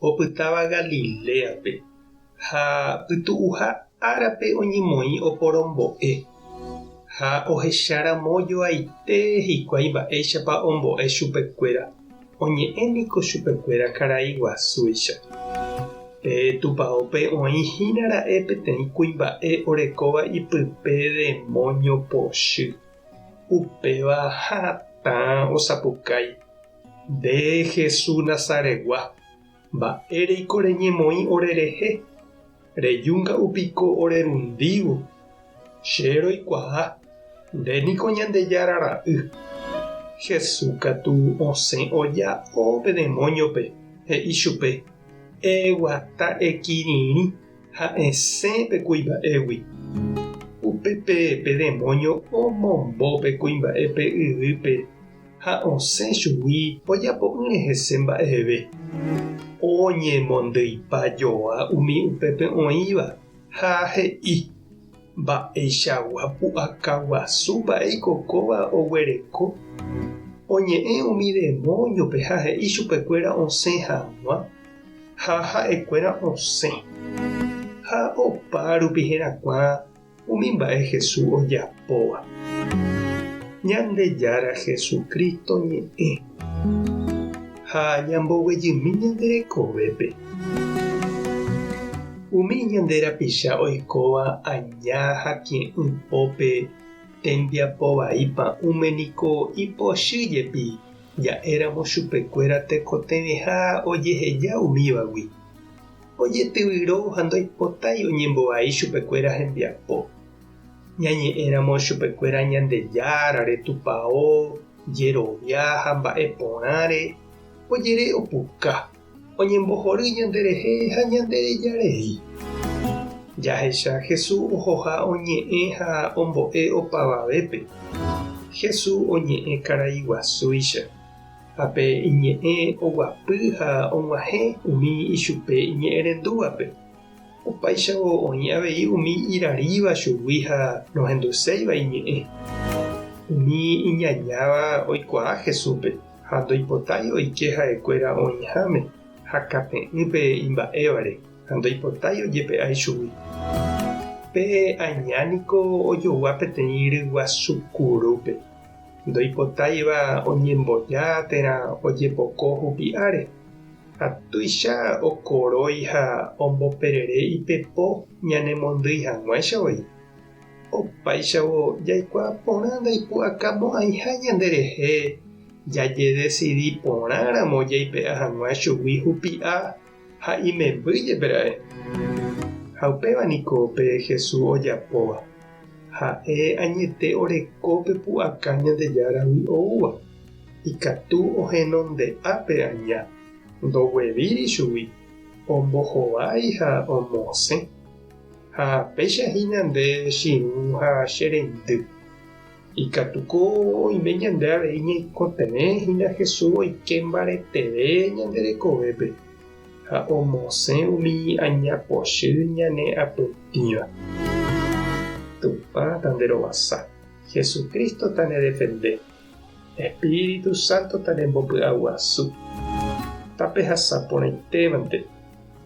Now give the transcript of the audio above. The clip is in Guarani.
opytáva Galiléape, ha pytu'uha árape oñemoĩ oporombo'e, ha ohecháramo joaite hikuái mba'éichapa ombo'e chupekuéra, oñe'ẽ niko chupekuéra karai guasúicha. Pe tupaópe oĩhína ra'e peteĩ kuimba'e orekóva ipype demóño pochy, upéva hatã osapukái. Nde Jesús Nazaretgua, mba'éreiko reñemoĩ orerehe? Rejúnga'u piko orerundívo? Che roikuaa, nde niko Ñandejára Ra'y. Jesús katu osẽ oja'o pe demóñope, he'i chupe, Eguata ekirirĩ ha esẽ pe kuimba'égui. Upépe pe demóño omombo pe kuimba'e pe yvýpe. ha osẽ chugui ojapo'ỹre hese mba'eve. Oñemondýipa joa umi upépe oĩva ha he'i, Mba'eichagua pu'aka guasu mba'éiko kóva oguereko? Oñe'ẽ umi demóniope ha he'i chupekuéra osẽ hag̃ua, ha ha'ekuéra osẽ. Ha opa rupi herakuã Umi mba'e Jesús ojapóva. Ñandejára Jesucristo ñe'ẽ ha ñamboguejymi ñande rekovépe. Umi ñande rapicha oikóva aña ha kie'ỹ pópe tembiapo vai pa'ũme niko ipochy jepi ja'éramo chupekuéra tekotevẽha ojeheja umívagui. ojetyvyro ha ndoipotái oñembovai chupekuéra hembiapo. Ñañe'ẽramo chupekuéra Ñandejára, retupao, jerovia ha mba'e porãre, ojere opuka, oñembohory ñanderehe ha ñandereja rei. Jahecha Jesús ohoha oñe'ẽ ha ombo'e opavavépe. Jesús oñe'ẽ karaiguasúicha. Ha pe iñe'ẽ oguapy ha og̃uahẽ umi ichupe iñe'ẽrendúvape, opáichavo oĩ avei umi iraríva chugui ha nohenduséiva iñe'ẽ. Umi iñañáva oikuaa Jesúspe ha ndoipotái oike ha'ekuéra oĩháme ha kate'ỹpe imba'évare ha ndoipotái ojepe'ái chugui. Pe aña niko ojogua peteĩ ryguasu kurúpe. Ndoipotáiva oñemboja térã ojepoko hupi'áre, ha tuicha okorói ha omboperere ipepo ñanemondýi hag̃uáicha voi. Opáichavo jaikuaa porã ndaipu'akamo'ãiha ñanderehe jajedesidi porãramo jaipe'a hag̃ua chugui hupi'a. ha imemby jepe ra'e. Ha upéva niko pe Jesús ojapóva, ha'e añete oreko pe pu'aka Ñandejáragui oúva, ikatu ohenonde'a pe aña, ndoguevíri chugui, ombohovái ha omosẽ. Ha péicha hína nde chirũ ha che reindy, Ikatuko oime ñande avei ñaikotevẽ hína Jesús oike mbareteve ñande rekovépe ha omosẽ umi añapochy ñane apytĩva. Tupã tanderovasa, Jesucristo tanedefende, Espíritu Santo tanembopy'aguasu, tapehasa porãitévante.